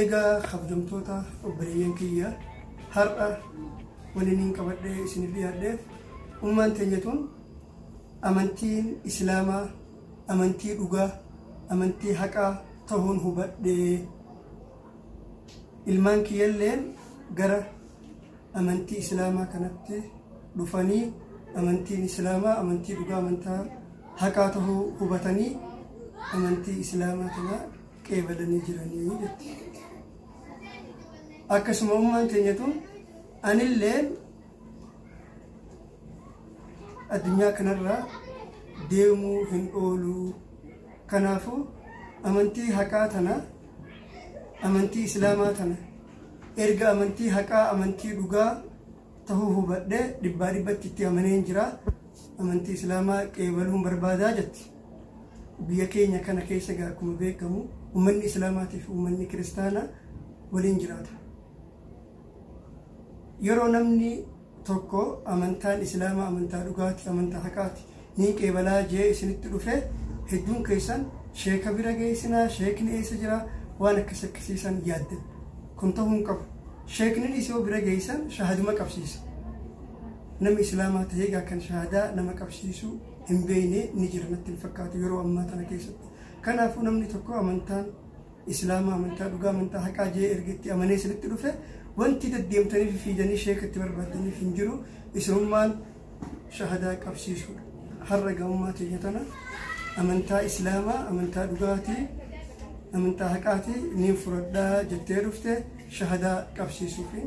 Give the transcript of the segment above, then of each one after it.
Egaa kabjamtoota obboleeyyan kiyya har'a waninin qabadhee isinif dhiyaadheef ummaan teenya tun amantiin islaamaa amantii dhugaa amantii haqaa tahuun hubadhee ilmaan kiyyalleen gara amantii islaamaa kanatti dhufanii amantiin islaamaa amantii dhugaa amantaa haqaa tahuu hubatanii amantii islaamaa kana qeebalanii jiranii jetti. Akkasuma ummaan teenyatu anillee addunyaa kanarraa deemuu hin oolu. Kanaafuu amantii haqaa tana amantii islaamaa tana erga amantii haqaa amantii dhugaa tahuu hubadhe dhibbaa dhibbatti itti amaneen jira amantii islaamaa qeebaluun barbaadaa jetti biyya keenya kana keessa egaa akkuma beekamu ummanni islaamaatiif ummanni kiristaanaa waliin jiraata yeroo namni tokko amantaan islaamaa amantaa dhugaati amantaa haqaati Niin qeebalaa jee isinitti dhufee hedduun keessan sheeka bira geessinaa sheekni eessa jira waan akkasi akkasii san yaaddan kun ta'uu hin qabu sheekninis yoo bira geessan shahaduma qabsiisa nama islaamaa ta'ee gaa kan shahadaa nama qabsiisu hin beeyne ni jira natti hin fakkaatu yeroo ammaa tana keessatti kanaafuu namni tokko amantaan islaamaa amantaa dhugaa amantaa haqaa jee erga itti amanee isinitti dhufe wanti deddeemtanii fi fiidanii sheeka itti barbaadaniif hin jiru isinummaan shahadaa qabsiisuu har'a ga'ummaa keenya tana amantaa islaamaa amantaa dhugaatii amantaa haqaatii ni fudhadhaa jettee dhufte shahadaa qabsiisuu fi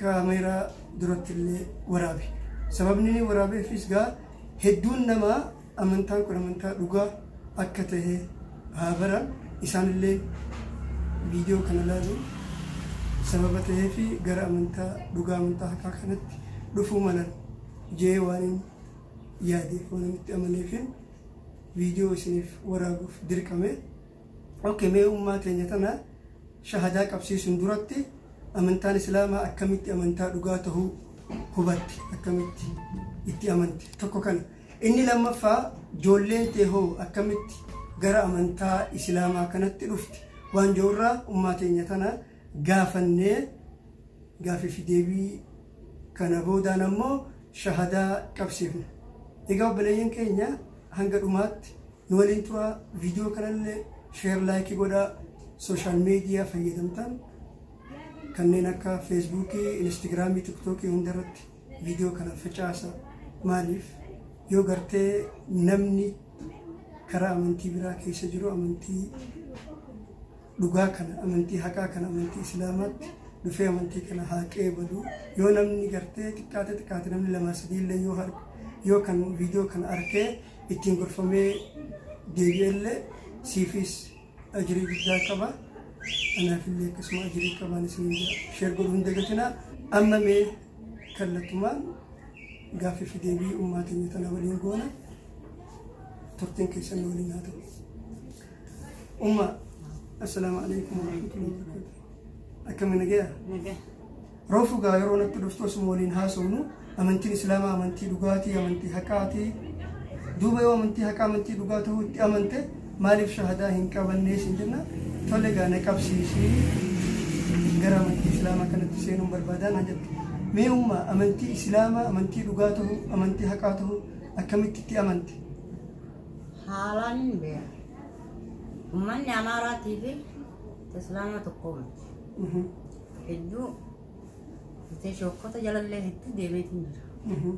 kaameeraa duratti illee waraabe sababni inni waraabeefis gaa hedduun namaa Amantaan kun amantaa dhugaa akka tahe haa baran. Isaan illee viidiyoo kana ilaaluun sababa taheef gara amantaa dhugaa, amantaa haqaa kanatti dhufuu malan jedhee waanin yaadeef, waanan itti amaneefin viidiyoo isiniif waraabuuf dirqame. Ok, mee ummaa teenya tana shahadaa qabsiisuun duratti amantaan Islaamaa akkamitti amantaa dhugaa tahuu hubatte? Akkamitti itti amante? Tokko kana. Inni lammaffaa joolleen tee hoo akkamitti gara amantaa isilaamaa kanatti dhufte waan je'urraa ummaa teenya tana gaafannee gaafii fi deebii kana boodaan ammoo shahadaa qabsiifna. Egaa obboleeyyan keenya hanga dhumaatti nu waliin turaa viidiyoo kanallee sheer laayikii godhaa sooshaal meediyaa fayyadamtan kanneen akka feesbuukii, instagiraamii, tiktookii hundarratti Viidiyoo kana facaasa maaliif yoo gartee namni karaa amantii biraa keessa jiru amantii dhugaa kana amantii haqaa kana amantii islaamaatti dhufee amantii kana haa qeebalu yoo namni gartee xiqqaate xiqqaate namni lama sadii illee yoo har yoo kan viidiyoo kana arkee ittiin gorfamee deebi'e illee siifis ajirii guddaa qaba anaaf illee akkasuma ajirii qabaan isin sheer godhuun dagatinaa amma mee kallattumaan gaaffii fi deebii ummaa keenya tana waliin goona turtiin keessan nu waliin haa ta'u. Umma assalaamu alaikum warahmatullahi wabarakatuh. Akkami nagaya? Roofu gaa yeroo natti dhuftu osuma waliin haasofnu amantiin islaamaa amantii dhugaatii amantii haqaatii duuba yoo amantii haqaa amantii dhugaa ta'uu itti amante Maaliif shahadaa hin qabannee siin jenna tole egaa na qabsiisii gara amantii islaamaa kanatti seenuun barbaadaa naan jette. Mee umma amantii islaamaa amantii dhugaa ta'uu amantii haqaa ta'uu akkamitti itti amante? Haalaan hin beeku. Uummanni Amaaraatii fi Islaama tokko miti. Mhm. Hedduu Jettee shookkota jalallee hedduu deemeetiin jira.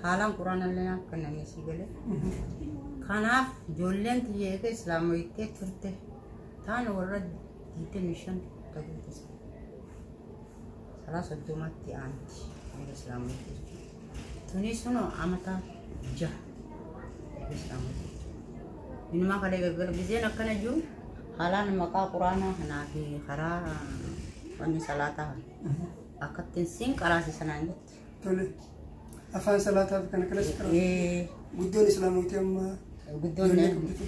Haalaan quraanallee naaf kennanii sii galee. Kanaaf ijoolleen tiyya eega islaamoyittee turte taan warra 25 ta'uu tasa. Salaa soddomatti aanti eega islaamoyittee jechuudha. Tunis kunoo amata jaha eegas dhaamate. Inumaa kalee galgala gizeen akkana jiru haalaan maqaa quraanaa kanaa fi karaa wanni salaataa kana akkattiin siin qaraasisa naan jette. Tole. Afaan salaataaf kana kanas qara. Ee, Guddoon islaamooti amma. Guddoon Ijoollee qabdu.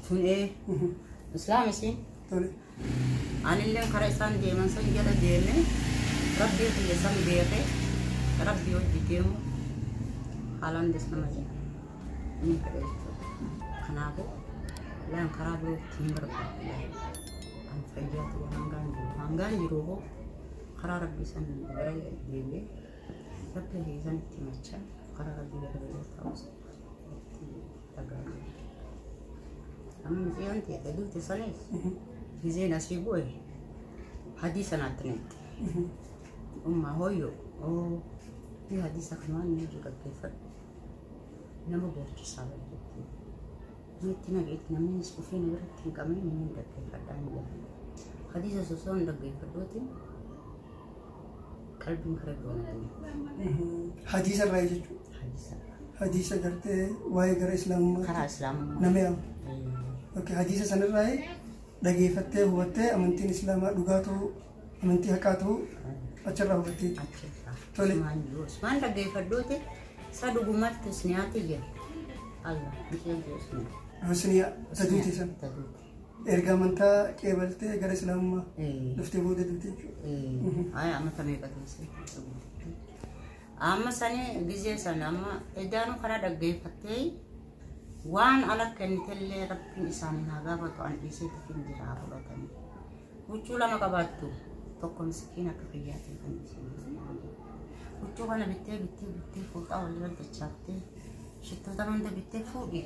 tun ee Mhm. islaam isiin Tole. Anillee kara isaan deeman san jala deeme rabbii kiyya san beeke rabbii hojji deemu haalaan des nama jedhe inni fedhe jechuudha. Kanaafuu laan karaa biroo ittiin barbaadu kan fayyaa ta'e hangaan jiru hangaan jiru hoo karaa rabbii san gara deebi'ee rabbii kiyya san itti machaa karaa rabbii gara ta'us. Amma mucayyoon teete duute saniif gizeen asii bu'e hadii sanaatti neette. Ummaa hooyyoo oo ni hadiisa kanaan ni jiru dhaggeeffadhu. Nama boochisaa bari jettee. Neetti na beekti namnis dhufee na biratti hin qabne namni hin dhaggeeffadhaa hin jedhu. Hadiisa osoo hin dhaggeeffadhuutiin Qalbiin karatti waan ta'eef. Hadiisa irraa jechuudha. Hadiisa. Hadiisa gartee waa'ee gara islaamummaa. Karaa islaamummaa. Nama yaamu. Yookiin hadiisa sanirraa dhageeffattee hubattee amantiin islaamaa dhugaa ta'uu amantii haqaa ta'uu achirraa hubattee jechuudha. Achirraa. Tole. Usmaan jiru. Usmaan dhaggeeffadhuuti. Isa dhugumatti usniyaati jira. Allah. Isheen jiru usniyaa. Husniyaa taduuti san. Taduuti. Erga amantaa qeebaltee gara islaamummaa Eh. dhuftee booda duute jechuudha. Ay, amma tamee qateesse. Amma sani gizee san amma edaanu kana dhaggeeffattee waan ala kennitellee rabbiin isaaniin haa gaafatu an dhiisee tafiin jiraa fudhatanii. Huccuu lama qabaattu tokko miskiin akka fayyaatiin kan isheen. Huccuu kana bittee bittee bittee fuudhaa walirra dachaaftee shittoota hunda bittee fuudhi.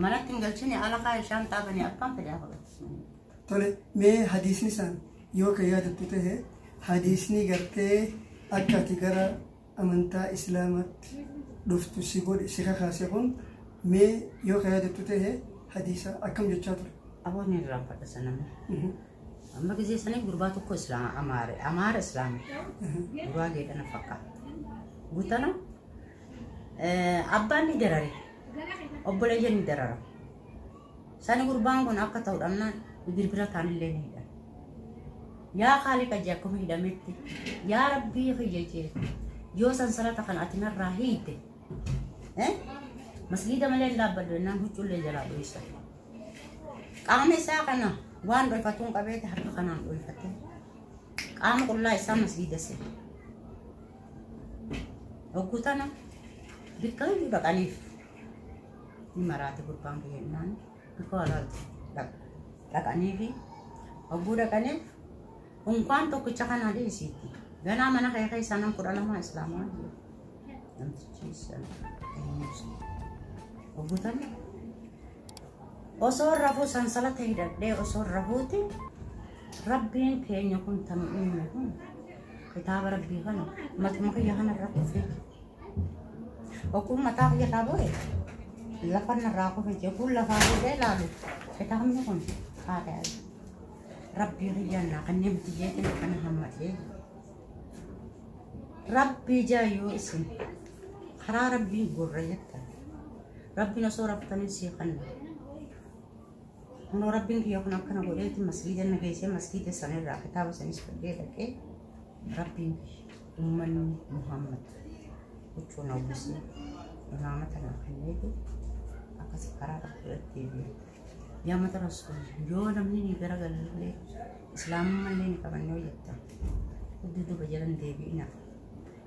Manatti hin galchine ala kaa'e shaanxaa banee abbaan fedhe haa baqachiisanii. Tole mee hadiisni san yoo kan yaadattu ta'e hadiisni gartee akka ati gara amantaa islaamaatti dhuftu si godhe si kakaase kun mee yoo kan yaadattu ta'e hadiisa akkam jechaa ture. Aboonni irraan fadha saname. Mhm, Amma gisee sanii gurbaa tokko islaama amaare amaara islaama mhm, gurbaa geedhana fakkaata. Gutana eh, abbaan ni darare obboleeyyan ni darara. Sani gurbaan kun akka ta'u dhabnaan birbira kaanillee ni hidhan. Yaa kaaliqa jee akkuma hidhametti yaa rabbii kiyya jee yoo sansalata kana ati narraa hiite eh? masgiida malee hin dhaabbadhu jennaan huccuullee jalaa dhoysa. Qaama isaa kana waan dhoyfatuun qabeeti harka kanaan dhoyfatee qaama qullaa isaa masgiida seena. Hogguu tana biqiluu dhaqaniif ni maraate gurbaan kiyya innaan bikoo alaatti dhaqaniifi hogguu dhaqaniif unkaan tokkicha kanaa dhiisiitti ganaa mana kee keessaa nan kudha lamaa islaamaa jiru namtichi sana eenyuusa hogguu tana Osoo rafuu sansalata hidhadhee osoo rafuuti rabbiin keenya kun tanu uume kun kitaaba rabbii kana matuma kiyya kana irra kufee okkuun mataa kiyya irraa bu'e lafa irraa kufe jechuun lafaa bu'ee ilaalu kitaabni kun haadha rabbii kiyya naa kanneen biyyeetiin akkana hammatee rabbii jaayoo isin karaa rabbiin gurra jettan Rabbiin osoo raftaniin sii kanna. Kunoo rabbiin kiyya kun akkana godheeti masgiida na geessee masgiida sanirraa kitaaba sanis fudhee dhaqee rabbiin ummanni Muhammad huccuu na uwwisee imaamata na kenneeti akkasi karaa tokko irratti eebi'e. Yaa mata rasuul yoo namni ni garagalee islaamummaa illee ni qabanne hojjetta. Dudduuba jalan deebi'ina.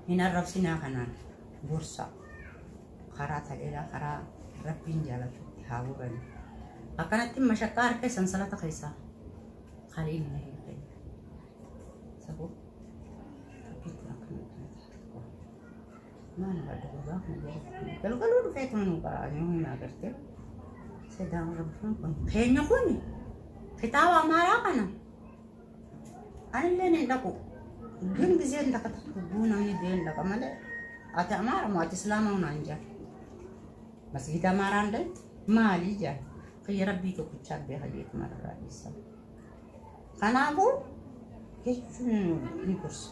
Hin arrabsinaa kanaan gorsaa. karaa taleelaa karaa rabbiin jaalatutti haa gorani akkanatti mashaqqaa harka sansalata keessaa kaliin na hin ta'e sabuu rabbiitti akkana maal badda gurbaa kun jedhu galgaluu dhufee tuma nu baraa yoo hin agarte sedaan rabbiin kun keenya kun kitaaba amaaraa kana Anilleen hin dhaqu. Gin gizeen takka tubbuu namni du'ee hin dhaqa malee ati amaara moo ati islaamaa naan jedhan. Masgiida amaaraan deemte maalii jedhan. Kiyya rabbii tokkichaa beeka jeetu mararraa dhiisa. Kanaafuu jechuun ni gorsa.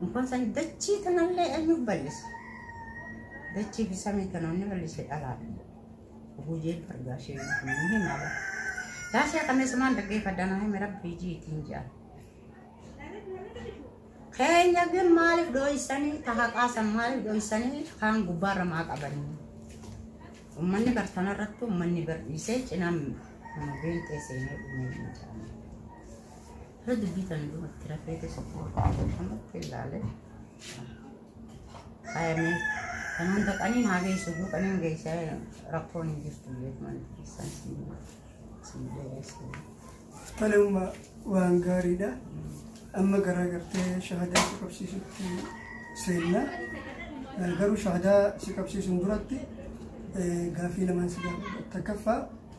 Inkoon san dachii tanallee eenyuuf bal'isa? Dachii fi samii tana inni bal'ise dhalaadha. Guyyee argaa ishee hin himaa bara. Daasee qameessumaan dhaggeeffadha naa hime rabbii jiitiin jedhan. Keenya kun maaliif dhooysanii taha qaasan maaliif dhooysanii kaan gubbaarra maa qabanii. Uummanni bartana irratti uummanni barsiisee cinaan nama beenxee seenee dhumee hin jedhamu. Yoo dubbii tana dhumatti rafeetu si fuudha. Ammatti ilaale. Faayamee kan hunda qaniin haa geessu iyyuu qaniin geessee rakkoon hin jirtu beekuma keessan siin siin beeksisa. Tanuma waan gaariidha. Amma garaa gartee shahadaa si qabsiisutti seenna. Eh, Garuu shahadaa si qabsiisuun duratti eh, gaaffii lamaan si gaafadha. Takkaffaa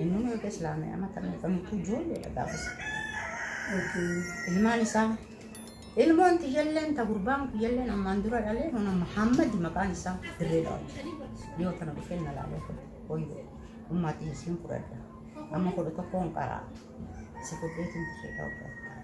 Inni nu erga islaamee amma kan eegamutu ijoolleedha gaafas. Ilmaan isaa ilmoon tiyyalleen ta gurbaan kiyyalleen ammaan dura dhalee hona Muhammad maqaan isaa dirree dhawa. Yoo tana dhufee na laalee fudha. Hoyyoo ummaa tiyya siin fudhadha. Amma kudha tokkoon qaraa. Si fudheetiin dirree dhawa.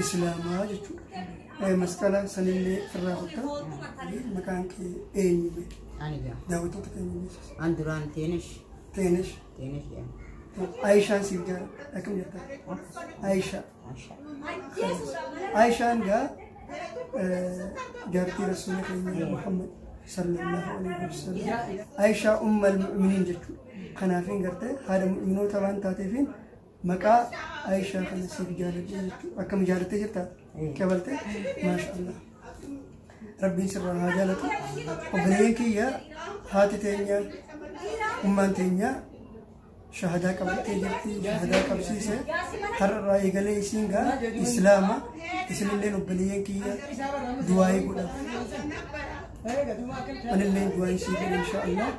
islaamaa jechuudha. Eh, Masqala sanillee irraa kutta maqaan kee eenyu mee? Ani jedhama. Daawwattoota keenya beeksisa. An duraan Teenesh. Teenesh. Teenesh jedhama. Ayishaan siif jaa akkam jirta? Ayishaa. Mashaa. Ayishaan gaa eh, jaartii rasuula keenya Muhammad sallallahu alaihi wasallam. Ayishaa ummal mu'miniin jechuudha. Kanaafin gartee haadha mu'minoota waan taateefin Maqaa Aishaa kana siif jaaladhe jechuudha. Akkam jaalattee jirta? Qabalte? Maasha Allah. Rabbiin sirraa haa jaalatu. Obboleeyyan kiyya haati teenya ummaan teenya shahadaa qabattee jirti. Shahadaa qabsiise. Har'arraa eegalee isiin gaa Islaama. Isinilleen obboleeyyan kiyya du'aayii godha. Anilleen du'aayii sii godha insha Allah.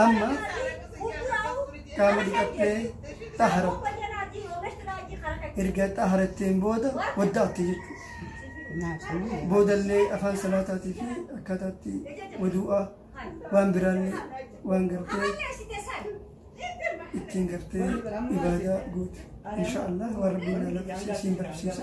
Amma qaama dhiqattee xaharatti. Erga xaharatteen booda wadda'atte jechuudha. Boodallee afaan salaataatii fi akkaataatti waduu'aa waan biraallee waan gartee ittiin gartee ibaadaa goote. Inshaallah waan rabbiin na lakkisiisiin barsiisa.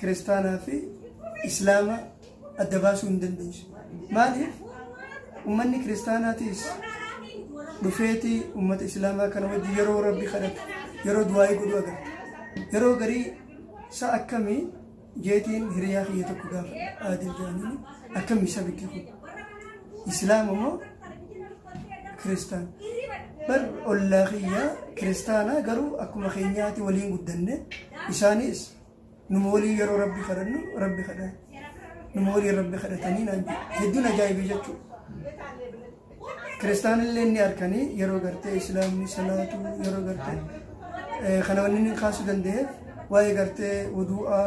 kiristaanaa fi islaama adda baasuu hin dandeessu. Maaliif ummanni kiristaanaatiis dhufeeti ummata islaamaa kana wajji yeroo rabbi kadhatu yeroo du'aa'ii godhu agarta. Yeroo garii sa akkamii jeetiin hiriyaa kiyya tokko gaafa aadil jaanii akkamii sabiti kun islaama moo kiristaan bar ollaa kiyya kiristaanaa garuu akkuma keenyaati waliin guddanne isaanis Numa waliin yeroo rabbi kadhannu rabbi kadha. Numa waliin rabbi kadhatanii naan jedhu. Hedduun ajaa'ibe jechuudha. Kiristaanillee inni harkanii yeroo gartee islaamni salaatu yeroo gartee eh, kana wanni inni kaasuu danda'e waa'ee gartee wuduu'aa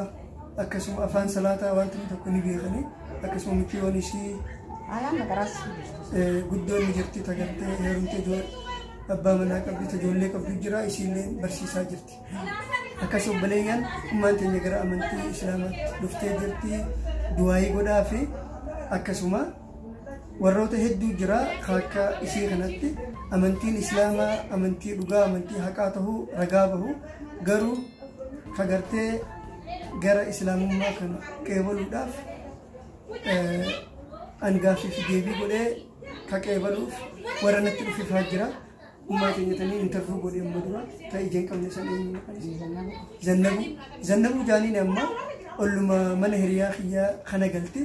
akkasuma afaan salaataa waan ta'e tokko ni beekanii akkasuma mikiyoon isii Ayaan nagaras. eh, guddoon ni jirti tagartee heerumte ijoollee abbaa manaa qabdi ijoollee qabdu jira isiillee barsiisaa jirti. akkas obboleeyyan ummaan teenya gara amantii islaamaatti dhuftee jirti duwaayii godhaa fi akkasuma warroota hedduu jira kan akka isii kanatti amantiin islaamaa amantii dhugaa amantii haqaa tahuu ragaa bahu garuu kagartee gara islaamummaa kana qeebaluudhaaf angaaffii fi deebii godhee ka qeebaluuf warra natti dhufifaa jira Ummaa keenya tanii intervuu godhee amma dura ta ijeen qabne san eenyu maqaan isii? Zannabu. Zannabu jaaniin amma olluma mana hiriyaa kiyyaa kana galte.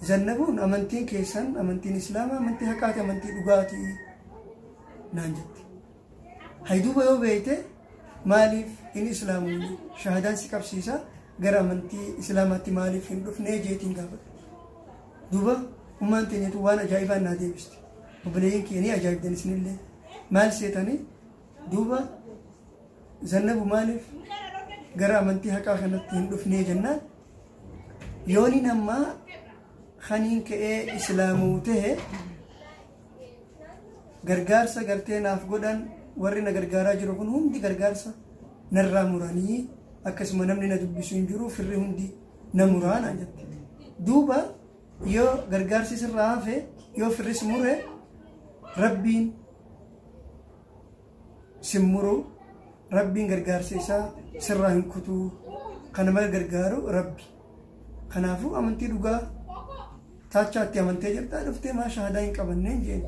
Zannabuun amantiin keessan amantiin islaamaa amantii haqaati amantii dhugaati naan jette. Hayduuba yoo beekte maaliif hin islaamuun shahadaan si qabsiisa gara amantii islaamaatti maaliif hin dhufnee jeetiin gaafadha. Duuba ummaan teenya tun waan ajaa'ibaan naa deebiste. Obboleeyyan kiyya ni ajaa'ibdan isinillee. Maal seetanii? Duuba zannabu maaliif gara amantii haqaa kanatti hin dhufnee jennaan yooni nammaa kaniin ka'ee islaamuu ta'e gargaarsa gartee naaf godhan warri na gargaaraa jiru kun hundi gargaarsa narraa muranii akkasuma namni na dubbisu hin jiru firri hundi na muraa naan jette. Duuba yoo gargaarsi sirraa hafe yoo firris mure rabbiin sin muruu rabbiin gargaarsa isaa sirraa hin kutuu kana mala gargaaru rabbi. Kanaafuu amantii dhugaa taachaatti amantee jirtaa dhuftee maa shahaadaa hin qabanneen jeen.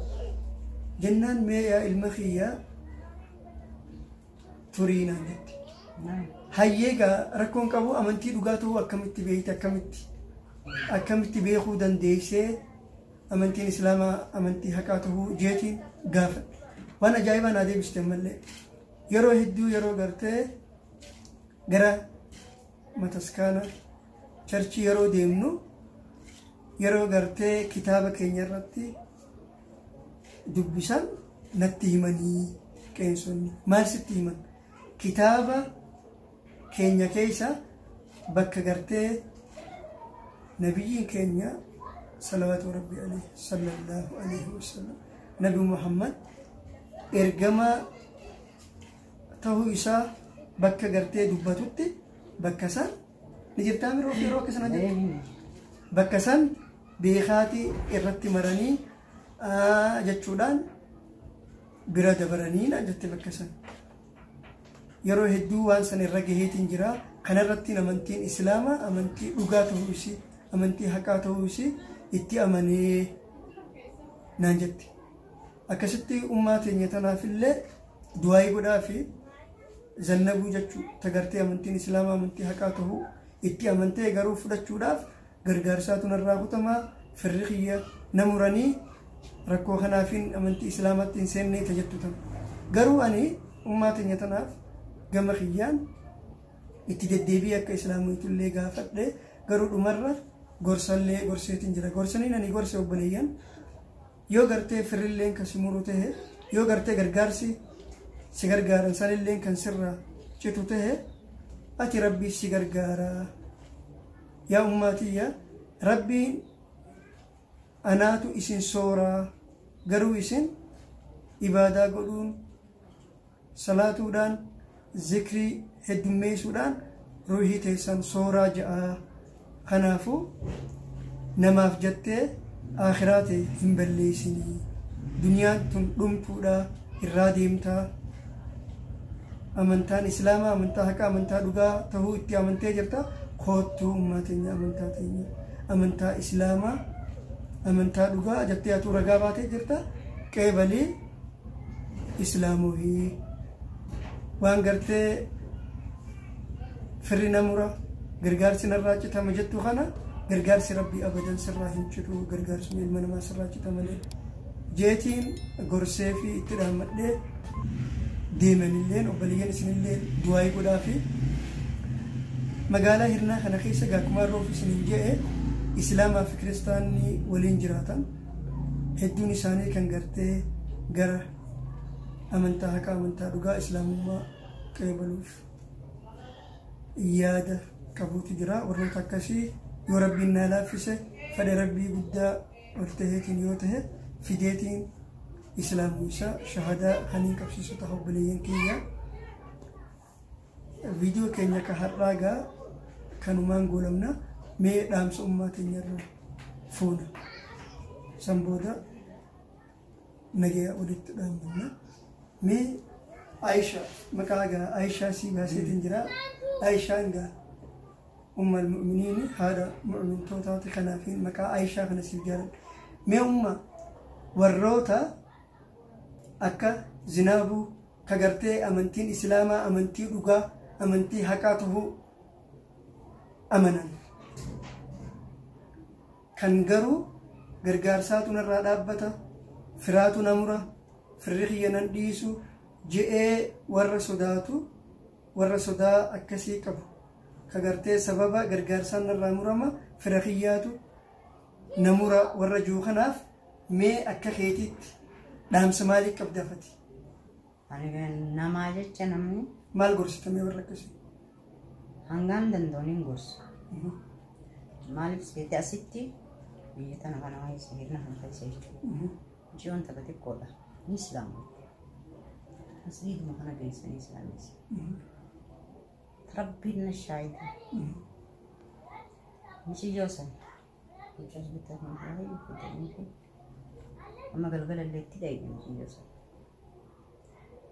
Jennaan mee yaa ilma kiyyaa turii naan jette. Hayyee egaa rakkoon qabu amantii dhugaa ta'uu akkamitti beekte akkamitti akkamitti beekuu dandeessee amantiin islaamaa amantii haqaa ta'uu jeetiin gaafadhe. Waan ajaa'ibaa naa deebiste ammallee yeroo hedduu yeroo gartee gara mataskaana charchii yeroo deemnu yeroo gartee kitaaba keenya irratti dubbisan natti himanii qeensonni maal sitti himan kitaaba keenya keessa bakka gartee nabiyyiin keenya salawaatu rabbi alayhi sallallahu alayhi wasallam nabi muhammad ergamaa ta'uu isaa bakka gartee dubbatutti bakka isaa Ni jirtaa miroo yeroo akka sana jirtu. Bakka san beekaatii irratti maranii aa, jechuudhaan bira dabaranii naan jette bakka san. Yeroo hedduu waan san irra gaheetiin jira. Kanarrattiin amantiin Islaamaa amantii dhugaa ta'uu isii, amantii haqaa ta'uu isii itti amanee naan jette. Akkasitti ummaa teenya tanaafillee du'aayii godhaafi zannabuu jechuu tagartee amantiin islaamaa amantii haqaa tahuu itti amantee garuu fudhachuudhaaf gargaarsaatu narraa kutamaa firri kiyya na muranii rakkoo kanaafiin amantii islaamaatti hin seennee ta jettu tan garuu ani ummaa teenya tanaaf gama kiyyaan itti deddeebii akka islaamoytullee gaafadhe garuu dhumarra gorsallee gorseetiin jira gorsaniin ani gorse obboleeyyan Yoo gartee firrilleen kan si muru tahe, yoo gartee gargaarsi si gargaaran sanilleen kan sirraa citu tahe, ati Rabbiif si gargaara. Yaa ummaa tiyya, Rabbiin anaatu isin sooraa, garuu isin ibaadaa godhuun, salaatuudhaan, zikrii heddummeeysuudhaan ruuhii teeysan sooraa je'a. Kanaafu namaaf jattee aakhiraa tee hin balleeysin. Duniyaan tun dhumtuudha, irraa deemta. Amantaan Islaamaa amantaa haqaa, amantaa dhugaa tahuu itti amantee jirta. Koottu ummaa teenya amantaa teenya, amantaa Islaamaa, amantaa dhugaa jattee atuu ragaa baatee jirta. Qeebalii. islaamuhi waan gartee firri na mura gargaarsi narraa citama jettu kana gargaarsi rabbii abadan sirraa hin citu gargaarsuma ilma namaa sirraa cita malee jeetiin gorsee fi itti dhaammadhee deemanilleen obboleeyyan isinillee du'aayii godhaa fi magaalaa hirnaa kana keessa gaakkumaan roofu isinin je'e islaamaa fi kiristaanni waliin jiraatan hedduun isaanii kan gartee gara amantaa haqaa amantaa dhugaa islaamummaa qeebaluuf yaada qabuutu jira warroota akkasii yoo rabbiin naa laaffise fedha rabbii guddaa ol taheetiin yoo tahe fideetiin islaamuu isaa shahadaa haniin qabsiisu taha obboleeyyan kiyya Viidiyoo keenya ka har'aa gaa kanumaan goolabna mee dhaamsa ummaa teenyarra fuuna. San booda nagaya walitti dhaammanna. Mee Aisha maqaa gaa Aishaa sii baaseetiin jira. Aishaan gaa ummal mu'miniini haadha mu'mintootaati kanaaf maqaa Aishaa kana siif jaaladha. Mee umma warroota Akka Zinaabuu ka gartee amantiin Islaamaa amantii dhugaa, amantii haqaa tahuu amanan. Kan garuu gargaarsaatu narraa dhaabbata, firaatu na mura, firri kiyya nan dhiisu je'ee warra sodaatu, warra sodaa akkasii qabu, ka gartee sababa gargaarsaan narraa murama, fira kiyyaatu, na mura warra juu kanaaf mee akka keetiitti dhaamsa maalii qabda fati? Ani namaa jecha namni Maal gorsita mee warra akkasii? hangaan danda'u niin gorsa. Maaliif seete asitti biyya tana kana waan isa hirna kan keessa jechuudha. Ji'oon takka xiqqoodha. Ni islaama. Masjiiduma kana geessanii islaamessa. Rabbiin na shaahida. Miciyyoo san. Mucaa bitaa kan baay'ee guddatan kun. Amma galgala illee itti dhayne miciyyoo san.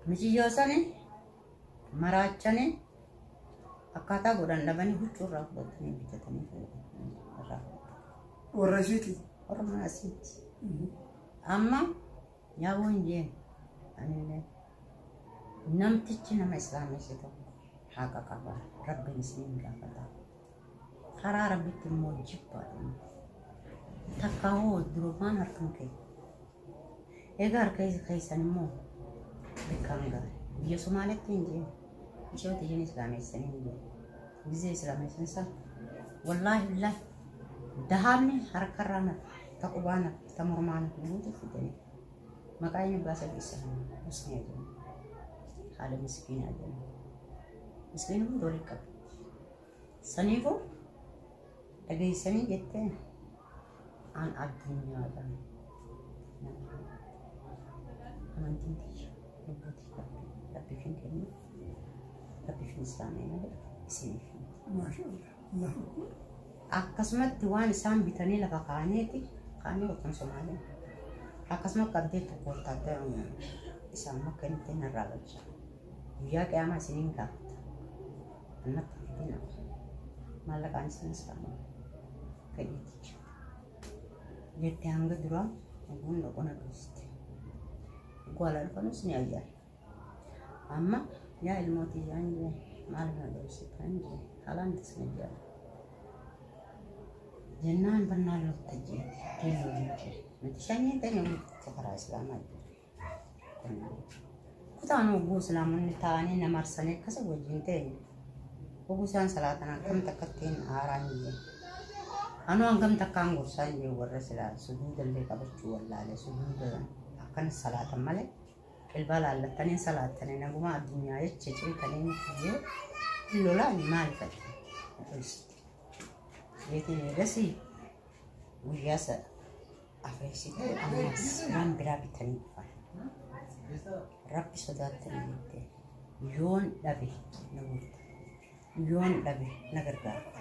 Miciyyoo san maraachane akkaataa godhan dhabanii huccuu irraa fudhatanii bitatanii fayyadamu. Irraa fudhatan. Warra ishiiti. Warra mana asiitti. Amma yaa boonjeen. Anillee Namtichi nama islaamesse tokko haqa qaba. Rabbiin isiniin gaafata. Karaa Rabbitti immoo jibbaadhuma. Takkaa hoo durumaan harkan kee. Egaa harka keessan immoo beekamu gahe. Biyya Somaaleetti hin jiru. Ishoo tiyyan islaamessanii hin jiru. Gizee islaamessan san wallaahi billaahi dahaabni harkarraa nafa, ta qubaa nafa, ta mormaa nafa guutuu fidanii. Maqaa eenyu baasa keessa musni jedhamu. Haala miskiinaa jedhamu. Miskiin kun doolii qaba. Saniifuu dhageessanii jettee aan addunyaadhaan amantiin tiyya lubbuutii qabdu rabbiif hin kennu rabbiif hin islaamee malee isiniif hin. Maashaa Allah. Akkasumatti waan isaan bitanii lafa kaa'aniiti kaanii wajjin Somaaleen. Akkasuma qabdee tokko wottaaddara isaan makka inni ittiin narraa galcha. Guyyaa qiyaamaa isiniin gaafata. Annatti fidina. Maallaqaan isinis kaanii. Fedhiiticha. Jettee hanga duraa oguun dhaqoon aduusti. Gwala dhufanus ni ayyaana. Amma yaa ilmoo tiyyaan jee maal na dhoofsitan jee halaan tasna jee jennaan bannaan lukta jee keelloo hin jee nuti shanyiin ta'e namni tokko karaa islaamaa jee kutaan oguu islaamonni ta'anii na marsanii akkasa wajjin ta'e oguu isaan salaatan akkam takkattiin haaraan jee Anu hangam takkaan gorsaan jee warra silaa sujuudallee qabachuu wallaale sujuuda akkana salaatan malee Qilbaa laallattanii hin salaattanii nagumaa addunyaa jecha cimtanii miti jee hin lolaani maali fadhi obboleessitti jeetiin eegasii guyyaa sa afreessitee ammas waan biraa bitanii dhufan rabbi sodaattanii jettee yoon dhabe na guuta yoon dhabe na gargaarta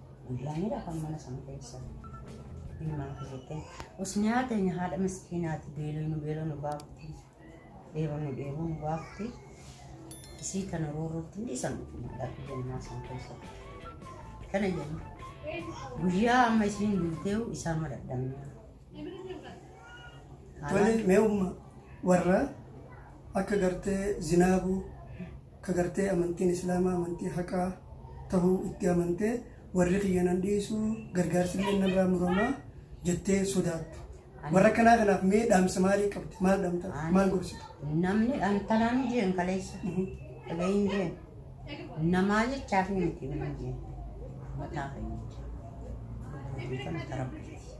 Guyyaanidha kan mana san keessa ilmaan keessatti. Us nyaata teenya haadha miskiinaati beeloo nu beeloo nu baafti. Dheeboo nu dheeboo nu baafti. Isii kana roorrootti hin dhiisan dhaabbi jennaa san keessatti. Kana jenna. Guyyaa amma isiin duuteewu isaan madadhamna. Tole mee umma warra akka gartee zinaabuu ka gartee amantiin islaamaa amantii haqaa tahuu itti amantee warri kiyya nan dhiisu gargaarsi illee narraa muramaa jettee sodaattu. Warra kanaa kanaaf mee dhaamsa maalii qabdi? Maal dhaamta? Maal gorsita? Namni dhantalaan jeen kaleessa. Dhageeyyiin jeen. Namaa jechaaf miti namni jeen. Mataa keenya jecha. Kan akka rabbiiti.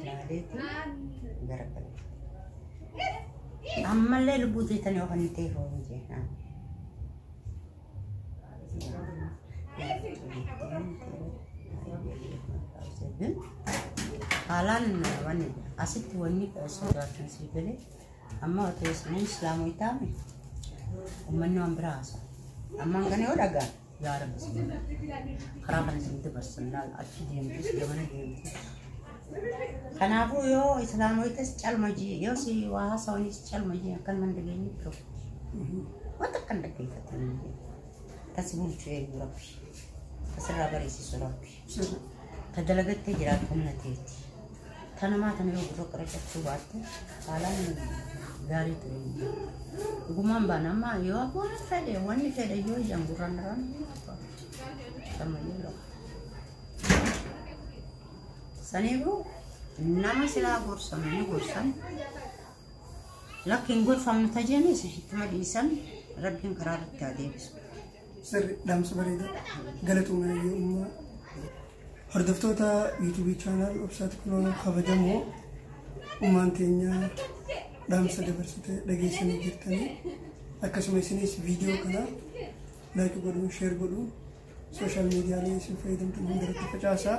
ilaaleeti gara kana. Ammallee lubbuu teetan yoo kan ta'e foonii jeenaan. Haalaan wanni asitti wanni sodaatan sii galee amma otoo isiniin islaamoota uummanni waan biraa haasa. Ammaan kana yoo dhagaan. yaa rabbi isin godhe karaa kana isin dabarsa laal achi deemtus gamana deemtus kanaafuu yoo islaamoitas calma jee yoo si waa haasawaniis calma jee akkan man dhageenye qabu wanta akkan dhaggeeffatan tas bulchu eegu rabbi tasirraa bareessisu rabbi ta dalagattee jiraatu humna teeti. Ta namaa tana yoo gurra qaracachuu baatte haalaan gaarii ture. Dhugumaan baana amma yoo abboon fedhe wanni fedhe yoo ijaan gurraan irraan sammayyuu lafa. Saniifuu nama silaa gorsamu ni gorsan. Lakkiin gorfamnu tajaajilus ittuma dhiisan rabbiin karaa irratti haa deebisu. Sirri dhaamsa bareeda galatooma nayyoo ummaa. Hordoftoota yuutuubii chaanaal obsaati kunoo kabajamoo ummaan teenya dhaamsa dabarsite dhageessanii jirtanii akkasuma isinis viidiyoo kana laayik godhuun sheer godhuun sooshaal miidiyaalee isin fayyadamtan hundarratti facaasaa.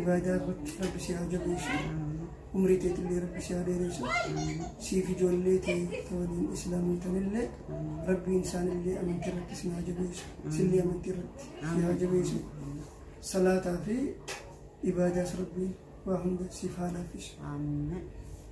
ibaadaa irratti rabbi si haa jabeessu umrii teetillee rabbi si haa dheeressu siif ijoollee tee ta waliin islaamootanillee rabbiin isaanillee amantii irratti si haa jabeessu sillee amantii irratti si haa jabeessu salaataa fi ibaadaas rabbiin waa hunda siif haa laaffisu Amen.